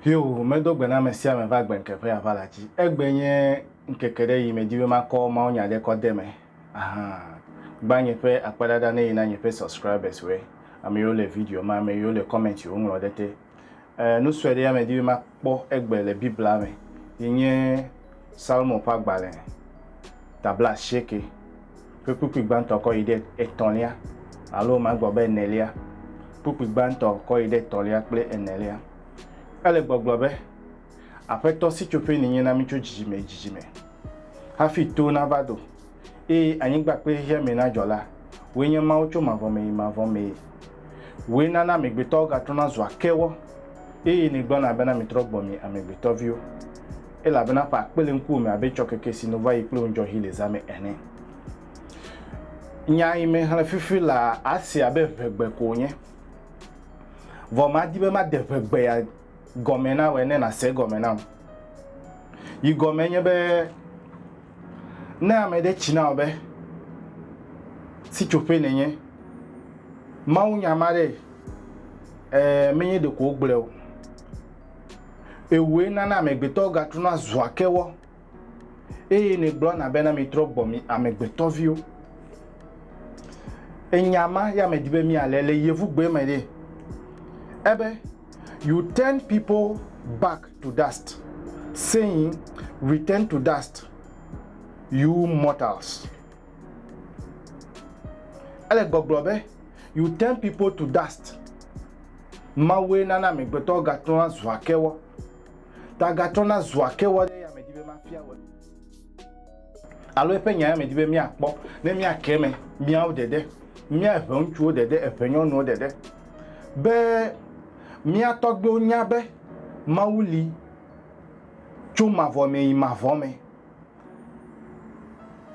Hiob medo gbe na ame sia ame va agbe ŋkeke ƒe aʋa la dzi. Egbe nye ŋkeke ɖe yi medzi be makɔ mawunya ɖe kɔ de me. Ahan. Gbã nye ƒe akpedada ne yi na nye ƒe subscribers woe, ame yiwo le video ma, ame yiwo le comment yiwo ŋlɔ ɖe te, E, nu sue ɖe ya medi be makpɔ egbe le Biblia me yi nye Salmo ƒe agbalẽ ta bla asieke ƒe kpukpui gbãtɔ kɔ yi ɖe etɔ̃lia alo magblɔ be enelia, kpukpui gbãtɔ kɔ yi ɖe etɔ̃lia kple enelia. Ele gbɔgblɔ be, Aƒetɔ, sitsoƒee nènye na mí tso dzidzime yi dzidzime, hafi to nava do. eye anyigba kple xexea me nadzɔ la, wòe nye Mawu tso mavɔ me yi mavɔ mee. Wòe nana amegbetɔwo gatrɔna zua kewɔ, eye nègblɔna bena mitrɔ gbɔ mi amegbetɔviwo, elabena ƒe akpe le ŋkuwò me abe tsɔkeke si nu va yi kple ŋudzɔɣi le zã me ene. Nya yi mexlẽ fifi laa, ase abe ʋegbe ko wònye. Vɔ madi be made ʋegbea gɔme na wòe ne nàse egɔme nam. Yi gɔmee nye be, Ne ame ɖe tsi na wò be sitsoƒee nènye, mawunya ma ɖe, ɛɛ, menye ɖeko wogblɔe o. Ewòe nana amegbetɔwo gatrɔna zua kewɔ, eye nègblɔna bena mitrɔ gbɔ mi amegbetɔviwo. Enya ma ya medi be míalé le Yevugbe me ɖe. Ebe. You turn people back to dust, saying, Return to dust, you mortals. Ele gbɔgblɔ be, You turn people to dust. Mawue nana amegbetɔwo gatrɔna zua kewɔ. Ta gatrɔna zua kewɔ ɖe yame di be mafia wɔ. Alo eƒe nyae medi be míakpɔ ne míake eme, míawo ɖeɖe, mía eveŋutsuwo ɖeɖe, evenyɔnuwo ɖeɖe, be mía tɔgbiwo nya be Mawu li tso mavɔ me yi mavɔ me.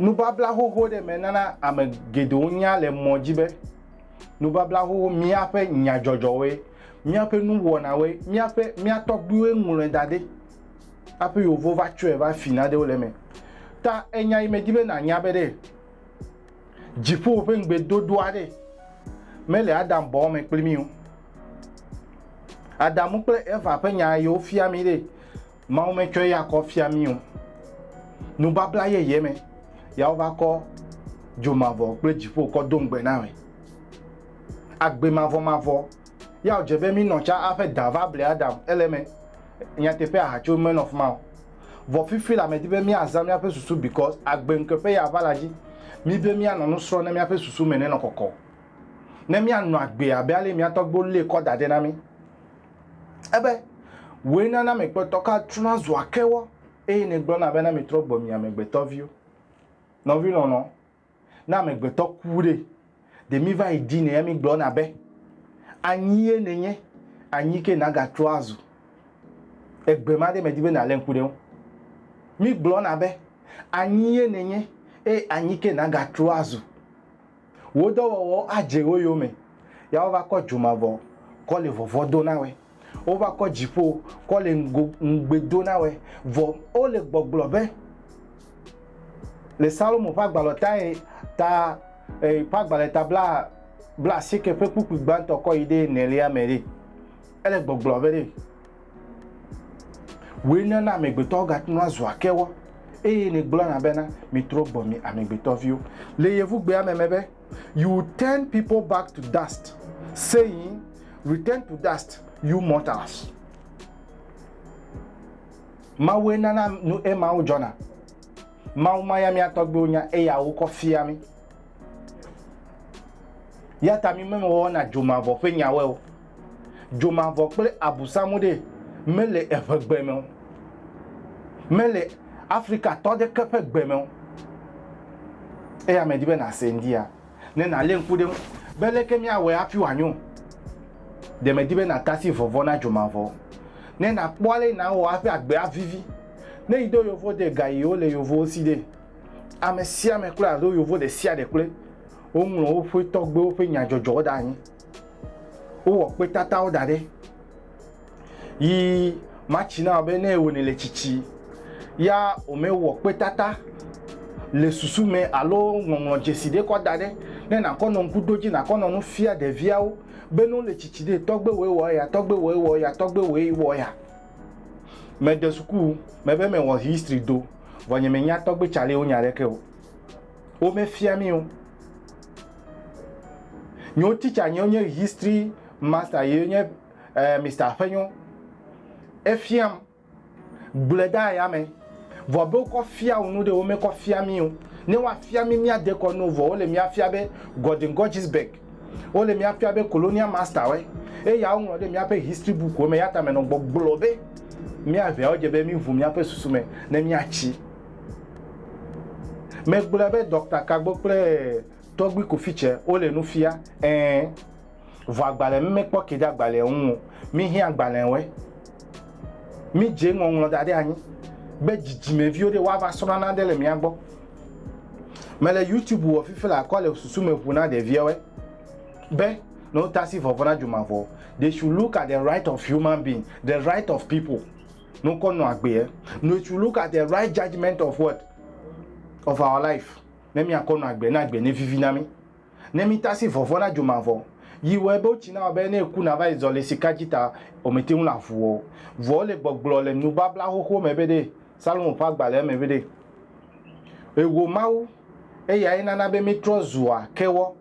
Nubabla xoxo ɖe me nana ame geɖewo nya le mɔ dzi be nubabla xoxo míaƒe nyadzɔdzɔwoe, míaƒe nuwɔnawoe, míaƒe mía tɔgbiwoe ŋlɔe da ɖi. Hafi Yehovo va tsɔe va fi nanewo le eme. Ta enya yi medi be nànya be ɖe dziƒo ƒe ŋugbedodo aɖe mele Adam bɔ me kpli mí o. Adamu kple Eva ƒe nya yi wofia mí ɖe, Mawu metsɔ eya kɔ fia mí o. Nubabla yeye me ya wova kɔ dzo mavɔ kple dziƒo kɔ do ŋugbe na me. Agbe mavɔmavɔ Ya wòdze be mí nɔ tsa aƒe da va ble Adam ele eme. Nyateƒe ahatso menɔ fima o. Vɔ fifi la medi be míazã míaƒe susu because agbe ŋkeƒe ya va la dzi mí be míanɔ nu srɔ̃ ne míaƒe susu me nenɔ kɔkɔ o. Ne míanɔ agbe abe ale mía tɔgbuiwo lée kɔ da ɖɛ na mí ebe, Wòe nana amegbetɔ ka trɔna zua kewɔ eye nègblɔna be na mitrɔ gbɔ mi amegbetɔviwo. Nɔvi lɔlɔ, Ne amegbetɔ ku ɖe, ɖe míva yi dinɛ ya mígblɔna be, Anyie nènye, anyi ke nàgatrɔ azu. Egbe ma ɖe medi be nàlé ŋku ɖe eŋu. Mígblɔna be, Anyie nènye, eye anyi ke nàgatrɔ azu. Wò dɔwɔwɔwo adze wo yome, ya wova kɔ dzomavɔ kɔ le vɔvɔ̃ do na wòe. Wova kɔ dziƒo kɔ le ŋgo ŋugbe do na wɛ. Vɔ o le gbɔgblɔ be, le Salomo ƒe agbalɔ tae ta e ƒe agbalɛ ta bla bla asieke ƒe kpukpui gbãtɔ kɔ yi ɖe enelia me ɖe. Ele gbɔgblɔ be ɖe woe na na amegbetɔwo ga trɔna zua kewɔ eye ne gblɔna bena, mitrɔ gbɔ mi amegbetɔviwo. Le Yevugbea me me be. You turn people back to dust, saying, Return to dust, you mortals. Mawue nana nu emawo dzɔna. Mawu ma ya mía tɔgbuiwo nya eya wokɔ fia mí. Ya ta mí memewɔna dzomavɔ ƒe nyawoe o. Dzomavɔ kple abusamu ɖe mele eŋegbe me o. Mele Afrikatɔ aɖeke ƒe gbe me o. Eya medi be nàse ŋdia, ne nàlé ŋku ɖe eŋu be leke míawɔe hafi wòanyo. Ɖe medi be nàte asi vɔvɔ̃ na dzomavɔ o, ne nàkpɔ ale nawɔ hafi agbea avivi. Ne yi ɖo yovo ɖe gaɣiwo le yovowo si ɖe, ame sia ame kloe alo yovo ɖe sia ɖe kloe. Woŋlɔ woƒe tɔgbuiwo ƒe nyadzɔdzɔwo ɖe anyi. wowɔ kpetatawo da ɖɛ yi matsi na be ne wòne le tsitsi ya wòmewɔ kpetata le susu me alo ŋɔŋlɔ dzesi ɖe kɔ da ɖe ne nàkɔ nɔ ŋku ɖo dzi nàkɔ nɔ nu fia ɖeviawo be ne wole tsitsi ɖe tɔgbe wòe wɔ eya tɔgbe wòe wɔ eya tɔgbe wòe wɔ eya. Mede suku mebe mewɔ history do vɔ nye menya tɔgbe tsalewo nya ɖeke o. Womefia mí o. Nyewo teacher nyewo nye history master ye nye eh, Mr. Aƒenyo. Efiam gblɔe ɖe aya me. Vɔ be wokɔ fia wò nu ɖe, womekɔ fia mí o. Ne woafia mí míade kɔ no vɔ wole míafia be Gordon Gorgisberg. Wole míafia be Colonial Master woe. Eya woŋlɔ ɖe míaƒe history book wo me. Eya ta menɔ gbɔgblɔ be mía eveawo dze be míŋu míaƒe susu me ne míatsi. Megblɔe be Dɔkta Kagbo kple Tɔgbui Kofice wole nu fia? Ẽ. Vɔ agbalẽ mi mekpɔ ke ɖe agbalẽa ŋu o. Mihiã agbalẽwoe. Midze ŋɔŋlɔ da ɖe anyi be dzidzimeviwo ɖe woava srɔ̃ nane le mía gbɔ. Mele YouTube wɔ fifi le akɔ le susu me ʋu na ɖeviawoe be ne wotasi vɔvɔ̃ na dzomavɔ. They should look at the right of human being, the right of people. Nukɔ nɔ agbea. No it should look at the right judgement of what? Of our life. Ne míakɔ nɔ agbea, ne agbea nevivi na mí, ne mítasi vɔvɔ̃ na dzomavɔ, yi wɔe be wotsi na wɔ be ne èku nàva yi zɔ le sika dzi ta, wòmete ŋu nàʋu wɔ o. Vɔ wole gbɔgblɔ le Nubabla Xoxo me be ɖe, Salomo ƒe agbalẽa me be ɖe, Eho Mawu, eyae nana be míetrɔ zua kewɔ,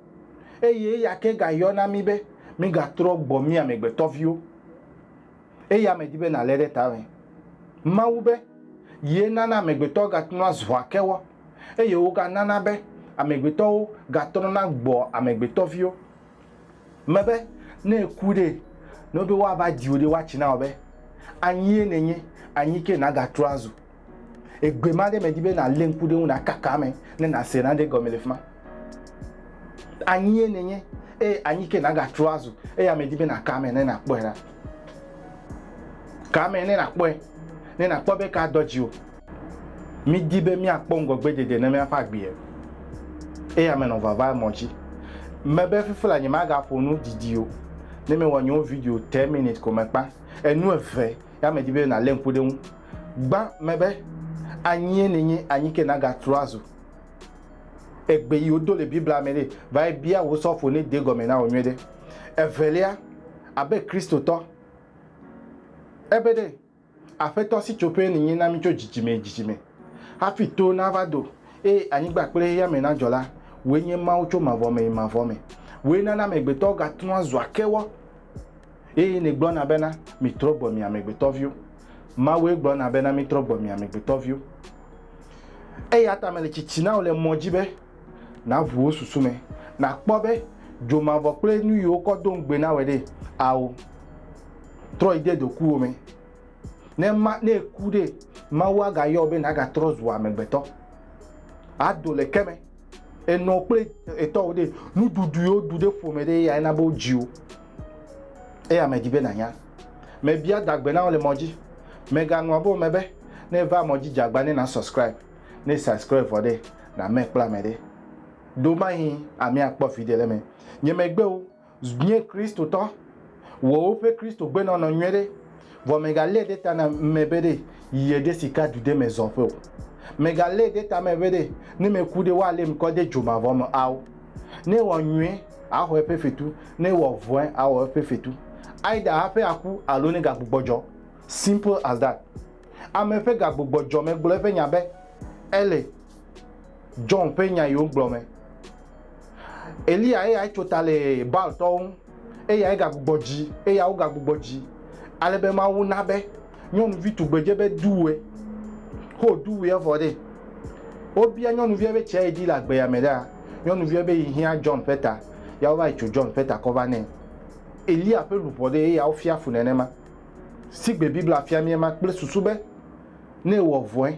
eye eya ke gayɔna mí be mígatrɔ gbɔ mí amegbetɔviwo. Eya medi be nàlé ɖe ta be Mawu be ye nana amegbetɔ gatrɔna zua kewɔ, eye woganana be amegbetɔwo gatrɔna gbɔa amegbetɔviwo me be ne eku ɖe, ne wobe woava diwò ɖe woatsi na wò be, Anyie nènye, anyi ke nàgatrɔ azu. Egbe ma ɖe medi be nàlé ŋku ɖe eŋu nàkaka eme ne nàse nane gɔme le fi ma. Anyie nènye, eye anyi ke nàgatrɔ azu, eya medi be nàka eme ne nàkpɔe ɖa. Ka eme ne nàkpɔe, ne nàkpɔ be kaa dɔ dziwò. Mídi be míakpɔ ŋgɔgbedede ne míaƒe agbee. Eya menɔ vava mɔ dzi. Mebe fifi la nyemagaƒo nu didi o, ne mewɔ nye wo video ten minutes ko mekpa. Enu eve ya medi be nàlé ŋku ɖe eŋu. Gbã mɛbe anyie nènye anyi ke nagatrɔ azu egbe yi wodo le Biblia mɛ ɖe, vayi bia wò sɔfo ne de gɔmɛ na wò nyuiɖe. Evelia, abe Kristotɔ, ebe ɖe, Aƒetɔ sitsoƒee nènye na mí tso dzidzime yi dzidzime. Hafi to nava do, eye anyigba kple xexeame nadzɔ la, wòe nye Mawu tso mavɔ me yi mavɔ me. Wòe nana amegbetɔwo gatrɔa zua kewɔ. Eye nègblɔna bena, Mitrɔ gbɔ mi amegbetɔviwo. Mawue gblɔna bena, Mitrɔ gbɔ mi amegbetɔviwo. Eya ta mele tsitsi na wò le mɔ dzi be nàʋu wò susu me, nàkpɔ be dzomavɔ kple nu yi wokɔ do ŋugbe na wòe ɖe. Ao, trɔ yi de dokuwo me. Ne ma, ne èku ɖe, Mawu agayɔ wò be nàgatrɔ zu amegbetɔ, ado le ke me. enɔ kple etɔwo ɖe nuɖuɖu yewo ɖu ɖe ƒome ɖe eya ena be wodzi wo eya medi be nanya mebia dagbe na wo le mɔ dzi megaŋlɔ be wome be ne va mɔ dzi dzagba ne na subscribe ne subscribe vɔ ɖe na me kple ame ɖe do mahi amea kpɔ viɖe le me nye megbe wo Nye Kristotɔ, wɔ woƒe Kristogbenɔnɔ nyuiɖe, vɔ mègalée ɖe ta na ame be ɖe yeɖe sika du ɖe me zɔ ƒe o. Mègalée ɖe ta me be ɖe ne meku ɖe, woaléem kɔ de dzo mavɔ me ao. Ne ewɔ nyuie, axɔ eƒe fetu, ne ewɔ vɔ̃e, awɔ eƒe fetu. Aida hafi aku alo ne gagbugbɔ dzɔ. Simple as that. Ame ƒe gagbugbɔ dzɔ megblɔ eƒe nya be, Ele. John ƒe nya yi wogblɔ me. Eliya eyae tso ta le Baaltɔwo ŋu, eyae gagbugbɔ dzi, eya wogagbugbɔ dzi, ale be Mawu na be nyɔnuvi tugbedze be duwɔe. Ho duwɔe evɔ ɖe. Wobia nyɔnuvia be tsia yi di le agbeya me ɖaa, nyɔnuvia be yi hiã John ƒe ta, ya wova yi tso John ƒe ta kɔ va nɛ. Eliya ƒe luʋɔ ɖee eya wofia fu nenema. Sigbe Biblia fia mí ema kple susu be ne ewɔ vɔe,